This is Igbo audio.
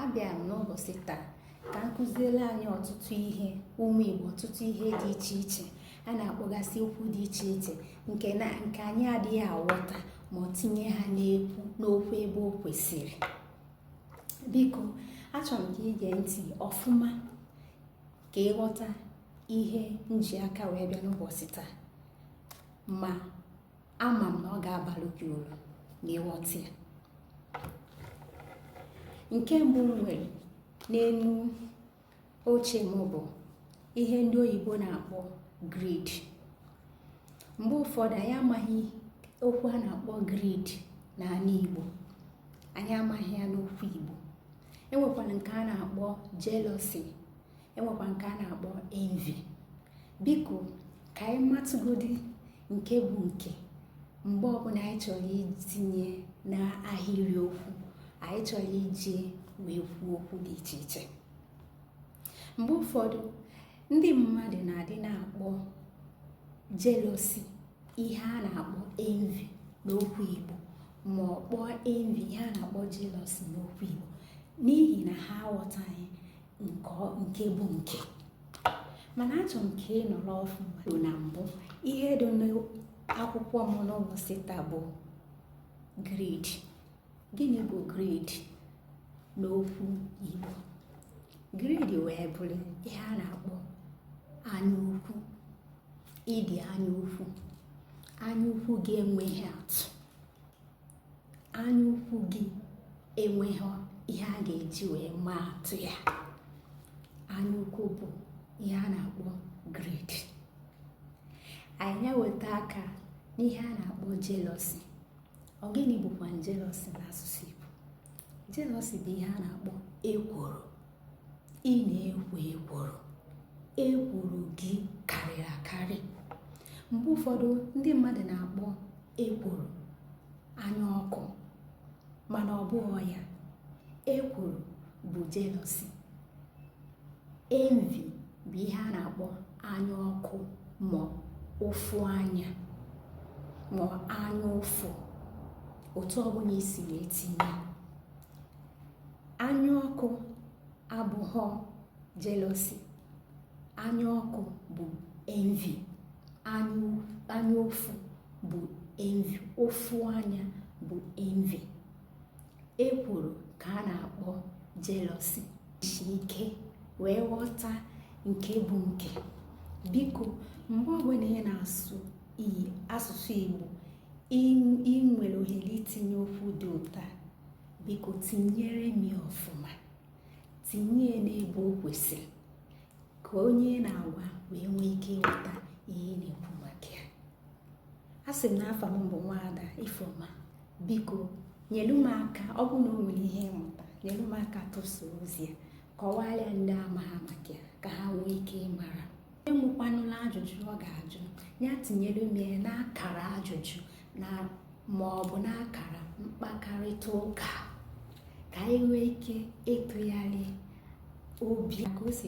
abịa m n'ụbọchị taa ka m kụziere anyị ọtụtụ ihe ụmụ Igbo ọtụtụ ihe dị iche iche a na-akpọgasị okwu dị iche iche nke anyị adịghị aghọta ma ọ tinye ha n'okwu ebe o kwesịrị biko achọrọ m ka i gee ntị ọfụma ka ị ghọta ihe m ji aka wee bịa n'ụbọchị taa ma ama m na ọ ga-abalụ gị uru na ịghọta ya nke mbụ m nwere n'elu oche m bụ ihe ndị oyibo na-akpọ greed mgbe ụfọdụ anyị amaghị okwu a na-akpọ greed n'ala Igbo anyị amaghị ya n'okwu Igbo e nwekwara nke a na-akpọ jealousy e nwekwa nke a na-akpọ envy biko ka anyị matụgodi nke bụ nke mgbe ọbụla anyị chọrọ itinye n'ahịrị okwu anyị chọrọ iji wee kwuo okwu dị iche iche mgbe ụfọdụ ndị mmadụ na-adị na-akpọ jealousy ihe a na-akpọ envy n'okwu Igbo ma ọ kpọọ envy ihe a na-akpọ jealousy n'okwu Igbo n'ihi na ha aghọtaghị nke bụ nke mana achọ m ka ị nọrọ ọfụma na mbụ ihe dị n'akwụkwọ m n'ụbọchị taa bụ greed gịnị bụ greed n'okwu Igbo greed wee bụrụ ihe a na-akpọ anyaukwu ịdị anyaukwu anyaukwu gị enweghị atụ anya ukwu gị enweghị ihe a ga-eji wee maa atụ ya anya ukwu bụ ihe a na-akpọ greed anyị weta aka n'ihe a na-akpọ jealousy ọ gịnị bụkwa jealousy n'asụsụ Igbo jealousy bụ ihe a na-akpọ ekworo ị na-ekwo ekworo ekworo gị karịrị akarị mgbe ụfọdụ ndị mmadụ na-akpọ ekworo anya ọkụ mana ọ bụghị ya ekworo bụ jealousy envy bụ ihe a na-akpọ anya ọkụ ma ụfụ anya ma anya ụfụ otu ọbụla i si wee tinye anya ọkụ abụghọ jealousy anya ọkụ bụ envy anya ụfụ bụ envy ụfụ anya bụ envy ekworo ka a na-akpọ jealousy jisi ike wee ghọta nke bụ nke biko mgbe ọbụla ị na-asụ asụsụ Igbo ị nwere ohere itinye okwu dị otu a biko tinyere m ya ọfụma tinye ya n'ebe o kwesịrị ka onye na-agwa wee nwee ike ịghọta ihe ị na-ekwu maka ya a sị m na afa m bụ nwaada ifeoma biko nyelu m aka ọ bụ na o nwere ihe ị mụta nyelu m aka tụsaa ozi a kọwaara ndị amaha maka ya ka ha nwee ike ịmara onye nwekwanụlụ ajụjụ ọ ga-ajụ ya tinyere m ya n'akara ajụjụ na ma ọ bụ n'akara mkpakọrịta ụka ka anyị nwee ike ịtụgharị obi ka o si